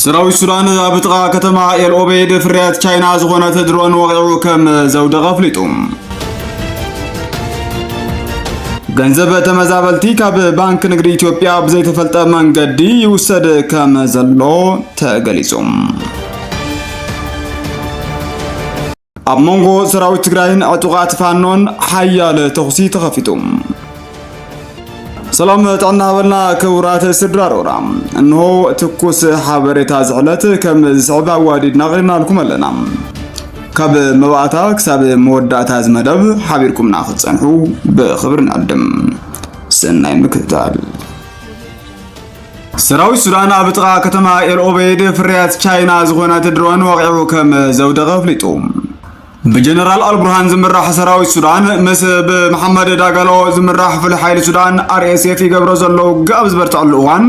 ሰራዊት ሱዳን ኣብ ጥቓ ከተማ ኤል ኦቤድ ፍርያት ቻይና ዝኾነት ድሮን ወቒዑ ከም ዘውደቐ ኣፍሊጡ። ገንዘብ ተመዛበልቲ ካብ ባንክ ንግዲ ኢትዮጵያ ብዘይተፈልጠ መንገዲ ይውሰድ ከም ዘሎ ተገሊጹ። ኣብ መንጎ ሰራዊት ትግራይን ዕጡቓት ፋኖን ሓያለ ተኹሲ ተኸፊቱ። ሰላም ጥዕና በልና ክቡራት ስድራ ሮራ እንሆ ትኩስ ሓበሬታ ዝሕለት ከም ዝስዕብ ኣዋዲድና ቕሪብናልኩም ኣለና ካብ መባእታ ክሳብ መወዳእታ ዝመደብ ሓቢርኩምና ክትፀንሑ ብኽብሪ ንዕድም ሰናይ ምክትታል ሰራዊት ሱዳን ኣብ ጥቓ ከተማ ኤልኦበይድ ፍርያት ቻይና ዝኾነት ድሮን ወቒዑ ከም ዘውደቐ ኣፍሊጡ። ብጀነራል ኣልቡርሃን ዝምራሕ ሰራዊት ሱዳን ምስ ብመሓመድ ዳጋሎ ዝምራሕ ፍሉይ ሓይሊ ሱዳን ኣርኤስኤፍ ይገብሮ ዘሎ ውግእ ኣብ ዝበርትዐሉ እዋን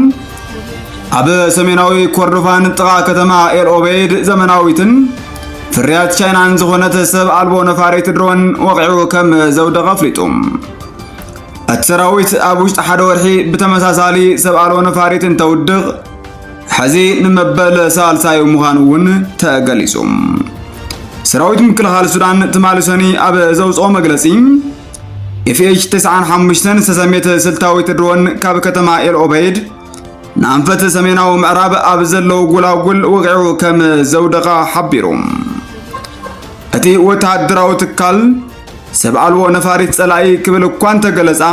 ኣብ ሰሜናዊ ኮርዶፋን ጥቓ ከተማ ኤልኦበይድ ዘመናዊትን ፍርያት ቻይናን ዝኾነት ሰብ ኣልቦ ነፋሪት ድሮን ወቂዑ ከም ዘውደቐ ኣፍሊጡ። እቲ ሰራዊት ኣብ ውሽጢ ሓደ ወርሒ ብተመሳሳሊ ሰብ ኣልቦ ነፋሪት እንተውድቕ ሕዚ ንመበል ሳልሳዩ ምዃኑ እውን ተገሊጹ። ሰራዊት ምክልኻል ሱዳን ትማሊ ሰኒ ኣብ ዘውፅኦ መግለፂ ኤፍኤች 95 ዝተሰሜት ስልታዊት ድሮን ካብ ከተማ ኤልኦበይድ ንኣንፈት ሰሜናዊ ምዕራብ ኣብ ዘለዉ ጎላጉል ወቂዑ ከም ዘውደቐ ሓቢሩ እቲ ወተሃደራዊ ትካል ሰብ ኣልቦ ነፋሪት ጸላኢ ክብል እኳ እንተገለጻ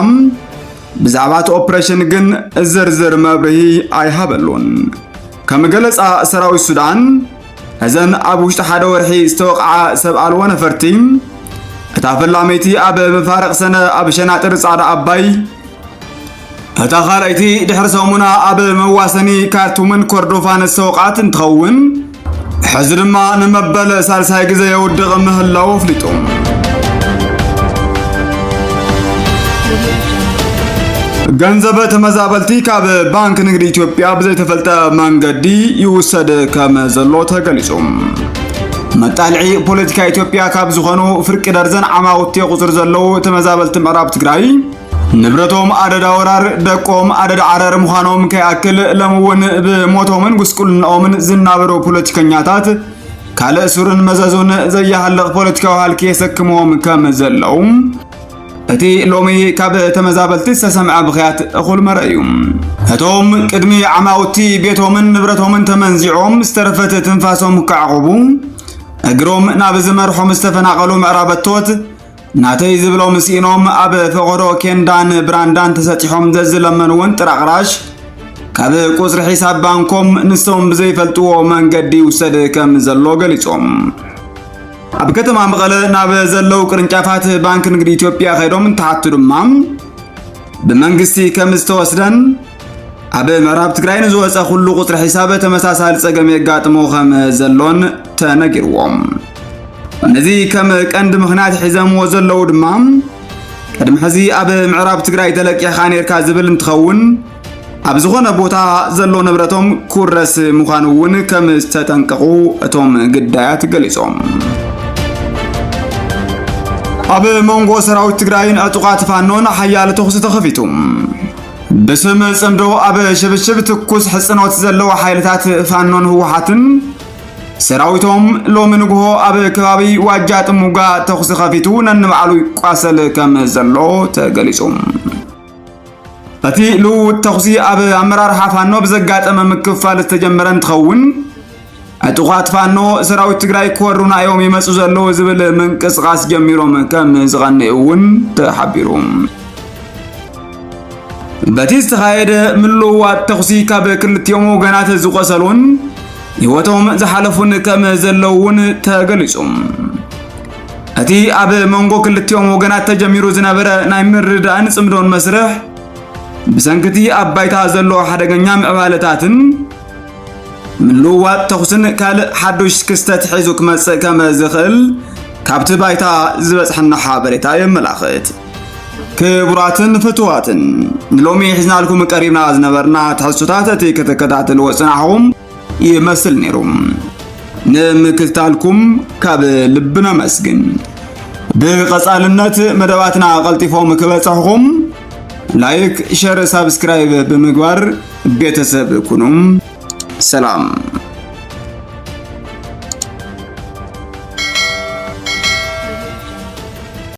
ብዛዕባ እቲ ኦፕሬሽን ግን ዝርዝር መብርሂ ኣይሃበሉን። ከም ገለጻ ሰራዊት ሱዳን እዘን ኣብ ውሽጢ ሓደ ወርሒ ዝተወቕዓ ሰብ ኣልቦ ነፈርቲ እታ ፈላመይቲ ኣብ መፋርቕ ሰነ ኣብ ሸናጥር ጻዕዳ ኣባይ እታ ካልኣይቲ ድሕሪ ሰሙና ኣብ መዋሰኒ ካርቱምን ኮርዶፋን ዝተወቕዓት እንትኸውን ሕዚ ድማ ንመበል ሳልሳይ ግዜ የውድቕ ምህላው ኣፍሊጡ። ገንዘብ ተመዛበልቲ ካብ ባንክ ንግዲ ኢትዮጵያ ብዘይተፈልጠ መንገዲ ይውሰድ ከም ዘሎ ተገሊጹ። መጣልዒ ፖለቲካ ኢትዮጵያ ካብ ዝኾኑ ፍርቂ ደርዘን ዓማውቲ ቁፅር ዘለዉ ተመዛበልቲ ምዕራብ ትግራይ ንብረቶም ኣደዳ ወራር ደቆም ኣደዳ ዓረር ምዃኖም ከይኣክል ሎም እውን ብሞቶምን ጉስቁልናኦምን ዝናበሩ ፖለቲከኛታት ካልእ ሱርን መዘዙን ዘያሃልቕ ፖለቲካዊ ሃልኪ የሰክምዎም ከም ዘለዉ እቲ ሎሚ ካብ ተመዛበልቲ ዝተሰምዐ ብኽያት እኹል መረ እዩ። እቶም ቅድሚ ዓማውቲ ቤቶምን ንብረቶምን ተመንዚዖም ዝተረፈት ትንፋሶም ክዓቑቡ እግሮም ናብ ዝመርሖም ዝተፈናቐሉ ምዕራበቶት ናተይ ዝብሎም ስኢኖም ኣብ ፈቐዶ ኬንዳን ብራንዳን ተሰጢሖም ዘዝለመንውን ጥራቕራሽ ካብ ቁጽሪ ሒሳብ ባንኮም ንሶም ብዘይፈልጥዎ መንገዲ ይውሰድ ከም ዘሎ ገሊጾም ኣብ ከተማ መቐለ ናብ ዘለው ቅርንጫፋት ባንክ ንግዲ ኢትዮጵያ ከይዶም እንትሓቱ ድማ ብመንግስቲ ከም ዝተወስደን ኣብ ምዕራብ ትግራይ ንዝወፀ ኩሉ ቁፅሪ ሒሳብ ተመሳሳሊ ፀገም የጋጥሞ ከም ዘሎን ተነጊርዎም ነዚ ከም ቀንዲ ምክንያት ሒዘምዎ ዘለዉ ድማ ቅድሚ ሕዚ ኣብ ምዕራብ ትግራይ ተለቂሕካ ነርካ ዝብል እንትኸውን ኣብ ዝኾነ ቦታ ዘሎ ንብረቶም ኩረስ ምዃኑ እውን ከም ዝተጠንቀቑ እቶም ግዳያት ገሊፆም ኣብ መንጎ ሰራዊት ትግራይን ዕጡቓት ፋኖን ሓያል ተኹሲ ተኸፊቱ ብስም ጽምዶ ኣብ ሽብሽብ ትኩስ ሕጽኖት ዘለዎ ሓይልታት ፋኖን ህወሓትን ሰራዊቶም ሎሚ ንግሆ ኣብ ከባቢ ዋጃ ጥሙጋ ተኹሲ ከፊቱ ነንባዕሉ ይቋሰል ከም ዘሎ ተገሊጹ። እቲ ልውውጥ ተኹሲ ኣብ ኣመራርሓ ፋኖ ብዘጋጠመ ምክፍፋል ዝተጀመረ እንትኸውን ዕጡቓት ፋኖ ሰራዊት ትግራይ ክወሩና እዮም ይመፁ ዘለዉ ዝብል ምንቅስቓስ ጀሚሮም ከም ዝቐንዩ እውን ተሓቢሩ። በቲ ዝተኻየደ ምልውዋጥ ተኹሲ ካብ ክልቲኦም ወገናት ዝቆሰሉን ህይወቶም ዝሓለፉን ከም ዘለዉ እውን ተገሊጹ። እቲ ኣብ መንጎ ክልቲኦም ወገናት ተጀሚሩ ዝነበረ ናይ ምርዳእን ጽምዶን መስርሕ ብሰንክቲ ኣብ ባይታ ዘሎ ሓደገኛ ምዕባለታትን ምልውዋጥ ተኹስን ካልእ ሓዱሽ ክስተት ሒዙ ክመጽእ ከም ዝኽእል ካብቲ ባይታ ዝበጽሐና ሓበሬታ የመላኽት። ክቡራትን ፍትዋትን ንሎሚ ሒዝናልኩም ቀሪብና ዝነበርና ትሕዝቶታት እቲ ከተከታተልዎ ጽናሕኹም ይመስል ነይሩ። ንምክትታልኩም ካብ ልቢ ነመስግን። ብቐጻልነት መደባትና ቀልጢፎም ክበጽሕኹም ላይክ፣ ሸር፣ ሳብስክራይብ ብምግባር ቤተሰብ ኩኑም ሰላም